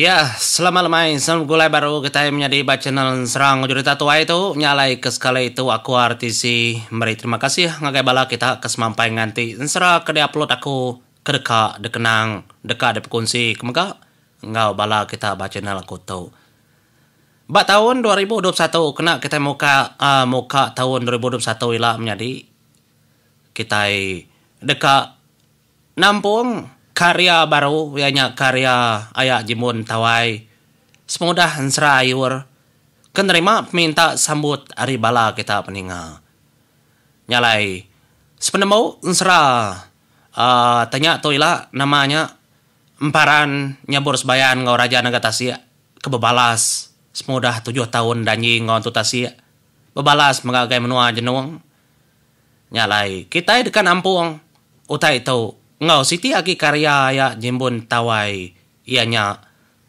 Iya, selamat lemai. Selamat begulai baru kitai menyadi ba channel Serang Jurita Tuai tu. Nya alai ke sekali tu aku RTC meri terima kasih ngagai bala kita ke semampai nganti ensera ke diupload aku ke deka dikenang, deka dipekunsi ke mega enggau bala kita ba channel aku tu. Ba taun dua ribu dua puluh satu kena kitai muka muka taun dua ribu dua puluh satu ila menyadi kitai deka nampung karya baru iya nya karya aya Jimun Tawai semudah ensera ayur ke nerima peminta sambut ari bala kita peninga. Nya alai sepenemu ensera uhh tanya tu ila nama nya Emparan Nyabur Sebayan enggau Raja Naga Tasik. ke bebalas semudah tujuh taun Danji enggau Entu Tasik bebalas mega agai menua Jenong. Nya alai, kitai deka nampung utai tu enggau siti agi karya iya Jimbun Tawai iya nya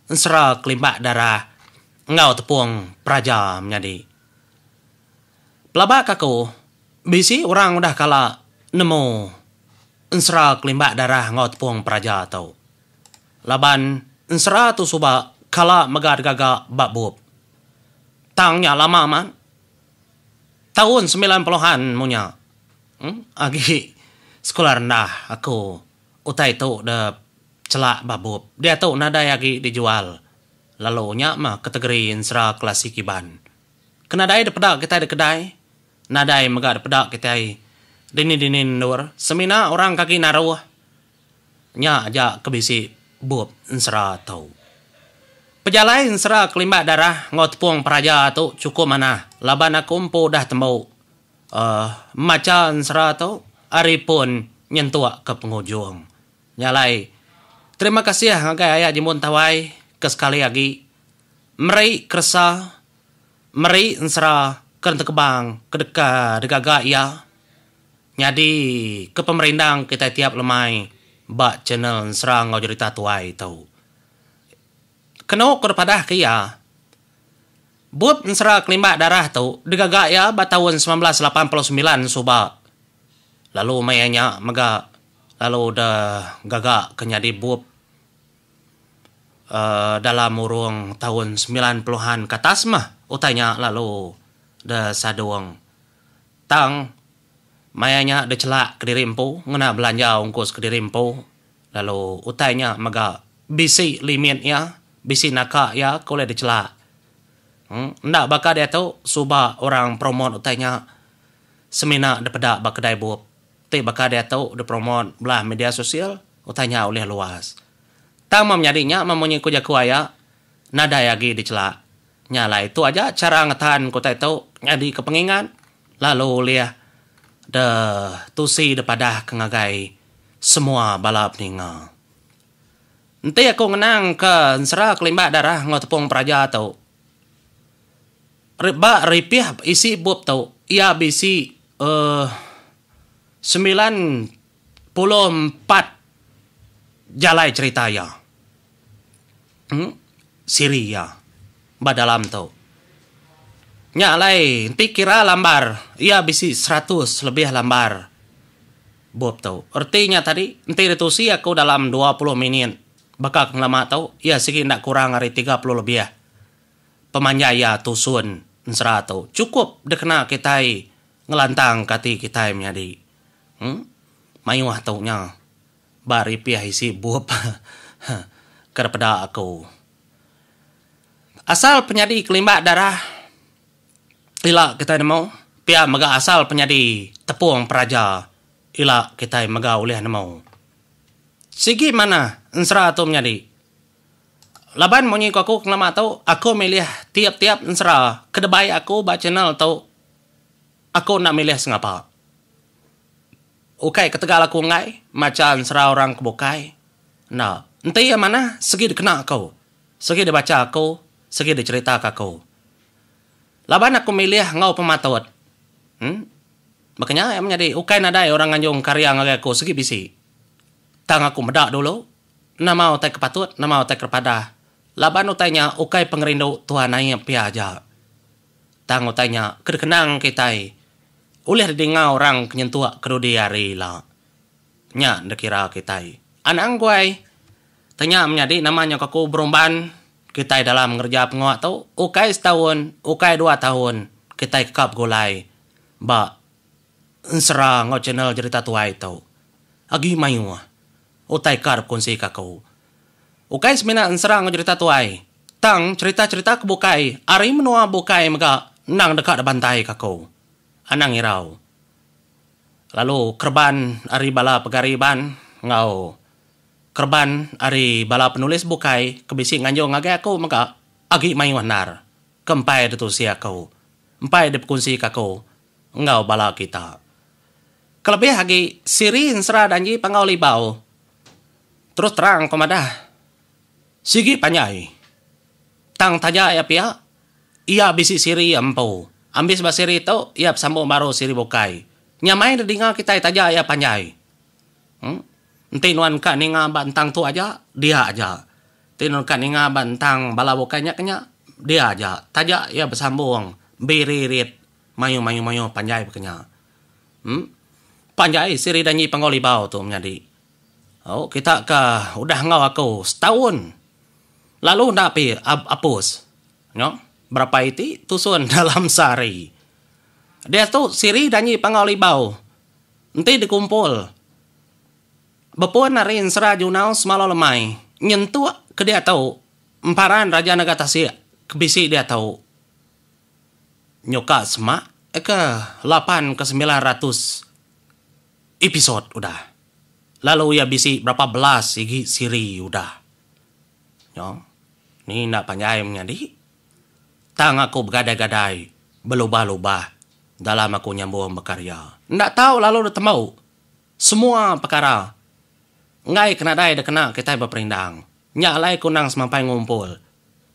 Ensera Kelimbak Darah enggau Tepung Peraja Menyadi. Pelabaka aku, bisi orang udah kala nemu Ensera Kelimbak Darah enggau Tepung Peraja tu. Laban ensera tu suba kala mega digaga ba bup. Tang nya lama amat. Taun semilan puluhan mung nya. Em agi sekula rendah aku utai tu da chela ba bup. Diatu nadai agi dijual lalu nya mah kategori ensera klasik Iban. Ke nadai dipeda kitai da kedai, nadai mega dipeda kitai dini-dini endur semina orang ke agi naruh. Nya aja ke bisi bup ensera tu. Pejalai ensera ke limbak darah enggau tepung peraja tu chukup manah laban aku empu udah tembu uhh macha ensera tu ari pun nyentuk ke pengujung. Nya alai terima kasih ngagai aya Jimun Tawai ke sekali agi meri keresa meri ensera ke netekebang ke deka digaga iya Nyadi ke pemerindang kitai tiap lemai ba channel ensra enggau jerita tuai tu. Kenu ku depadah ke iya, bup ensera kelimbak darah tu digaga iya ba taun semilan belas lapan puluh semilan suba lalu maya nya mega lalu deh gaga ke nyadi bup uhh dalam urung taun semilan puluhan ke atas meh utai nya lalu deh sadung. Tang, maya nya dechelak kediri empu ngena belanja ungkus kediri empu lalu utai nya mega bisi limit iya, bisi naka iya ke ulih dechelak. Em, enda baka diatu suba orang promote utai nya semina dipeda ba kedai bup ti baka diatu dipromote bala media sosial, utai nya ulih luas. Tang meh menyadi nya meh munyi ku jaku aya, nadai agi dechelak. Nya alai tu aja chara ngetan ke utai tu nyadika pengingat lalu ulih de tusi dipadahka ngagai semua bala peninga. Enti aku ngenangka ensera ke limbah darah enggau tepung peraja tu, ri ba ripih isi bup tu iya bisi uhh semilan puluh empat jalai cherita iya uhh siri iya ba dalam tu. Nya alai enti kira lambar iya bisi seratus lebih lambar bup tu. Reti nya tadi enti ditusi aku dalam dua puluh minit baka pengelama tu iya sigi enda kurang ari tiga puluh lebih pemanjai iya tusun ensera tu. Chukup dikena kitai ngelantangka ati kitai menyadi. Huh. Mayuh tu nya. Ba ripih isi bup. Huh. Kada peda aku. Asal penyadi kelimbak darah ila kitai nemu pia mega asal penyadi tepung peraja ila kitai mega ulih nemu. Sigi manah ensera tu menyadi. Laban munyi ku aku pengelama tu, aku milih tiap-tiap ensera ke dibai aku ba channel tu. Aku enda milih sengapa. Ukai ketegal aku enggai macha ensera orang ke bukai. Enda. Enti iya manah, segi dikena aku. Segi dibacha aku, segi dicheritaka aku. Laban aku milih enggau pematut. Em. Baka nya iya menyadi ukai nadai orang nganjung karya ngagai aku segi bisi. Tang aku meda dulu, nama utai ke patut, nama utai ke padah. Laban utai nya ukai pengerindu Tuhan Aie pia aja. Tang utai nya ke dikenang kitai ulih didinga orang ke nyentuk kedudi hari ila. Nya dikira kitai anak angguai. Tang nya menyadi nama nyau kaku berumban kitai dalam ngereja pengua tu, ukai setaun, ukai dua taun kitai keka begulai ba ensera enggau channel jerita tuai tu. Agi mayuh utai ka dipekunsika aku. Ukai semina ensera enggau jerita tuai, tang cherita-cherita ke bukai ari menua bukai mega endang deka dibantai ka aku. Anang irau. Lalu kereban ari bala pegari iban enggau kereban ari bala penulis bukai ke bisi nganjung ngagai aku mega agi mayuh endar ke empai ditusi aku, empai dipekunsi ka aku. enggau bala kita. Kelebih agi, siri ensera danji panggau libau. Terus terang aku madah, sigi panjai. Tang taja iya pia, iya bisi siri iya empu. Ambis ba siri tu, iya besambung baru siri bukai. Nyamai nedinga kitai taja iya panjai. Em. Enti nuan ka ninga ba entang tu aja, dia aja. Enti nuan ka ninga ba entang bala bukai nya ke nya, dia aja. Taja iya besambung biririt. Mayuh mayuh mayuh panjai baka nya. Em. Panjai siri danyi panggau libau tu menyadi. Au kita ka udah enggau aku setaun lalu enda pi ap apus. Nyo berapai iti tusun dalam sehari. Diatu siri danyi panggau libau enti dikumpul bepun ari ensera junau semalau lemai nyentuk ke diatu emparan raja naga tasik ke bisi diatu. Nyuka semak ke lapan ke semilan ratus episode udah lalu iya bisi berapa belas igi siri udah nyau ni enda panjai menyadi tang aku begadai-gadai belubah-lubah dalam aku nyambung bekarya enda tau lalu da tembu semua pekara enggai ke nadai da kena kitai beperindang nya alai ku nang semampai ngumpul.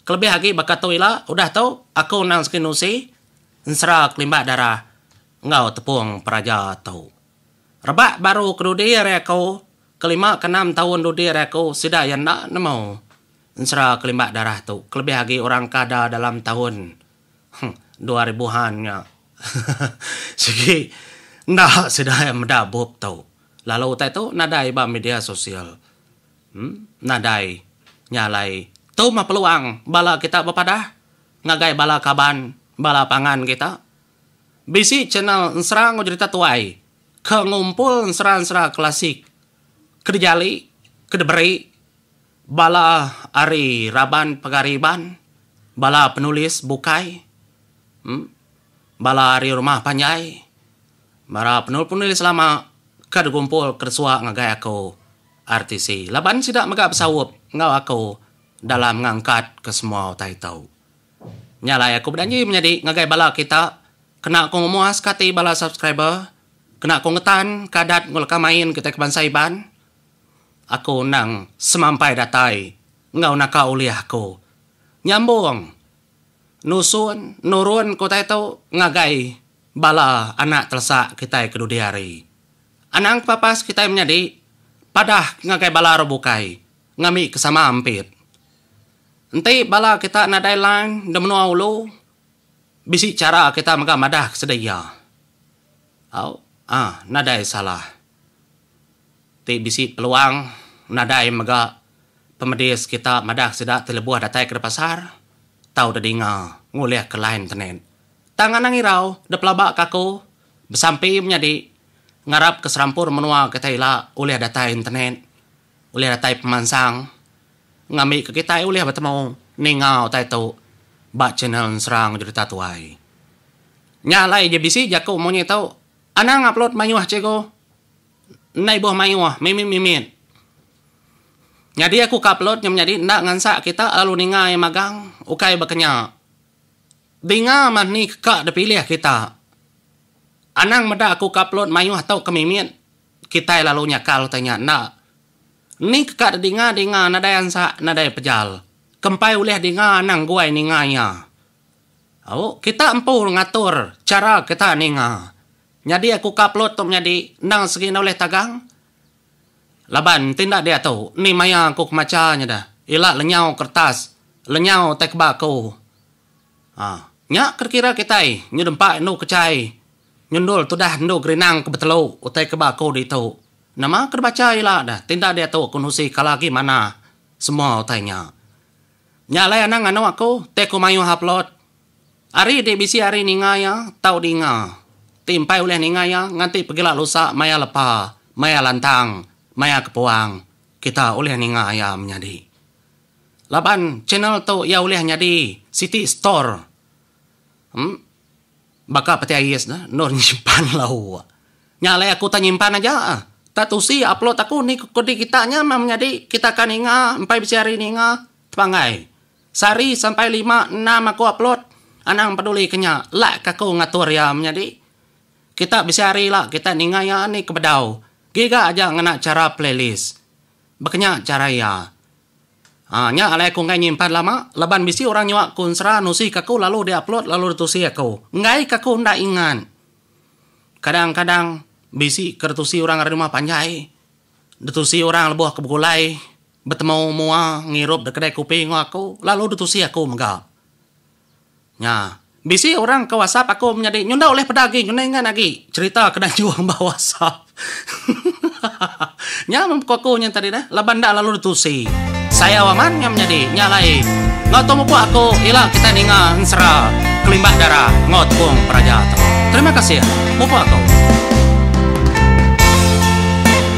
Kelebih agi baka tu ila udah tu aku endang sigi nusi ensera kelimba darah enggau tepung peraja tu. Rebak baru ke dudi ari aku ke lima ke enam taun dudi ari aku sida iya enda nemu ensera kelimba darah tu kelebih agi orang ke ada dalam taun huh dua ribuhan nya sigi enda sida iya meda bup tu lalu utai tu nadai ba media sosial. Nadai nya alai tu meh peluang bala kita bepadah ngagai bala kaban bala pangan kita. Bisi channel ensera enggau jerita tuai ke ngumpul ensera-ensera klasik ke dijali, ke diberi bala ari raban pegari Iban, bala penulis bukai, bala ari rumah panjai, bala penulis-penulis lama ke digumpul ke disua ngagai aku. RTC laban sida mega besaup enggau aku dalam ngangkat ke semua utai tu. Nya alai aku bejanji menyadi ngagai bala kita kena aku ngemuaska ati bala subscriber, kena aku ngetan ke adat enggau leka main kitai ke bansa Iban. Aku endang semampai datai enggau naka ulih aku nyambung nusun nurun ke utai tu ngagai. Bala anak telesak kitai ke dudi hari. Anang kepapas kitai menyadi padah ngagai bala orang bukai ngambi ke sama ampit. Enti bala kita nadai line de menua ulu, bisi chara kita mega madah ke sida iya. Au, ah, nadai salah. Ti bisi peluang nadai mega pemedis kita madah ke sida ti lebuh datai ke pasar tau dedinga ngulihka line tenet. Tang anang irau da pelaba ka aku besampi menyadi ngarap ke serampur menua kitai ila ulih datai internet, ulih datai pemansang ngambi ke kitai ulih betemu ninga utai tu ba channel Nserang Jurita Tuai. Nya alai ji bisi jaku munyi tu anang upload mayuh cikgu enda ibuh mayuh mimit-mimit. Nyadi aku ka upload nya menyadi enda ngansak kita lalu ninga iya magang ukai ba ke nya. Dinga mah ni ka dipilih kita. Anang meda aku ka pelun mayuh tu ke mimit. Kitai lalu nyakal utai nya enda. Ni ke ka didinga dinga nadai ansa nadai pejal. Kempai ulih dinga anang guai ninga iya. Au, kita empu ngatur chara kita ninga. Nyadi aku ka pelun tu menyadi enda segi enda ulih tagang. Laban enti enda diatu, ni maya aku ke macha nya dah. Ila lenyau keretas, lenyau utai ke ba aku. Haa. Nya ke dikira kitai, nyu dempa indu kechai, nyundul tudah indu gerinang ke betelu utai ke ba aku ditu. Nama ke dibacha ila dah, enti enda diatu aku nusi kala agi manah semua utai nya. Nya alai anang anu aku, enti aku mayuh upload. Ari ti bisi ari ninga iya tau dinga, ti empai ulih ninga iya nganti pegila lusa maya lepa, maya lantang, maya kepuang, kita ulih ninga iya menyadi. Laban channel tu iya ulih nyadi siti store em baka peti ais ne endur nyimpan lau. Nya alai aku tak nyimpan aja tak tusi upload aku ni kudi kita nya meh menyadi kita ka ninga empai bisi ari ninga tepanggai. Sehari sampai lima enam aku upload anang peduli ke nya lak ka aku ngatur iya menyadi kita bisi hari lak kita ninga iya ni ke bedau giga aja ngena chara playlist bekenya chara iya aa nya alai aku enggai nyimpan lama laban bisi orang nyua aku ensera nusi ka aku lalu di upload lalu di tusi aku enggai ka aku enda ingat kadang kadang bisi ke di tusi orang ari rumah panjai di tusi orang lebuh ke begulai. Betemu mua ngirup da kedai kopi enggau aku lalu ditusi aku mega. Nya, bisi orang ke whatsapp aku menyadi nyu enda ulih peda agi ngeningan agi cherita ke dianjung ba whatsapp. Hahaha. Nya men pekau aku nya tadi neh laban enda lalu ditusi. Sayau amat nya menyadi. Nya alai enggau tu mupuk aku ila kitai ninga ensera kelimbah dara enggau tepung peraja tu. Terima kasih mupuk aku.